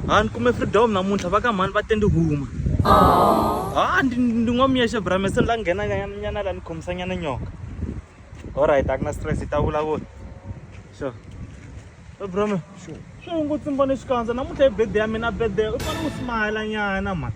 ha ni kume freedom namuntlha va ka mhani va te ni huma ha ndi ndi n'wamiyexe brame se ni la nghena nyana la ni khomisa nyana nyoka alright a ku na stress hi ta vulavula sure brame sure swi hungu tsimbone xikandza namuntlha hi bede ya mina bede u fane u smile nyana mhani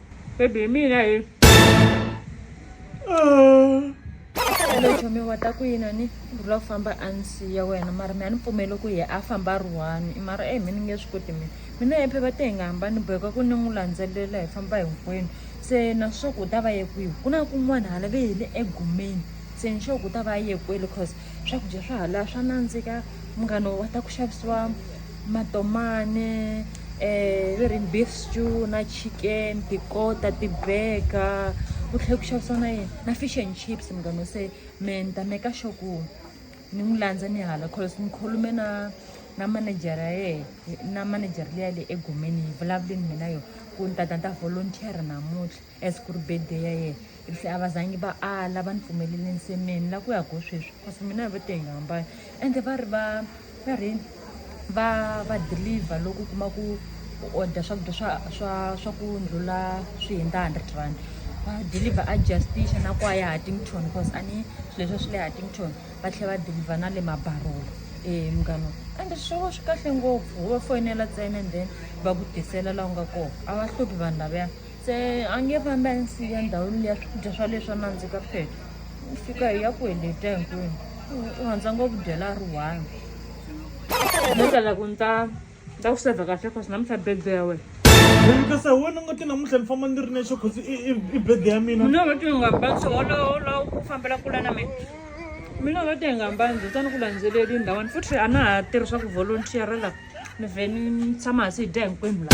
baby hi mina hi chomiwa ta ku yina ni rhula ku famba a ni siya wena mara mi a ni pfumeli ku ye a famba ri one i mara e mi ni nge swi koti mina mina hi phepha te hi nga hambani boheka ku ni n'wi landzelela hi famba hinkwenu se na swa ku u ta va ye kwihi ku na kun'wana hala ve hi le egumeni se ni sure ku u ta va ye kwele cause swakudya swa hala swa nandzika munghano wa ta ku xavisiwa matomane um va ri beef stew na chicken tikota ti-burger ku tlhela ku xavisa na yini na fish and chips munghano se me ni ta meka sure ku ni n'wi landza ni hala cause ni khulume na na manejara ya yehe na manejara leya le egomeni yi vulavule ni mina yona ku ni tata ni ta volunteer namuntlha As ku ri birthday ya yena if se a va zangi va ala va ni pfumelele nsemeni la ku ya go sweswi cause mina va te hi nga hambani ende va ri va va ri va va deliver loko u kuma ku u order swakudya swa swa swa ku ndlula swi hundza hundred rand va deliver a justicia na kwaya hattington cause a ni swilo leswi swi le hattington va tlhela va deliver na le mabarolo e munghana ende swilo swi kahle ngopfu wo va foyinela ntsena and then va ku tisela laha u nga kona a va hluphi vanhu lavaya se a nge fambi a ni siya ndhawini liya swakudya swa leswi a nandzika phela u fika hi ya ku heleta hinkwenu u rhandza ngopfu dyela a ri one no tala ku ni ta ni ta ku sevha kahle cause namuntlha birthday ya wena kasi hi wena nga ti namuntlha ni famba ni ri nexe cause i birthday ya mina mina vati nga mbanzi wolowola ku fambela kula na mina mina vati hi nga mbanzi u tani ku landzeleli ndhawani futhi a na ha tirhi swa ku volunteer la ni vhe ni tshama hansi hi dya hinkwenu la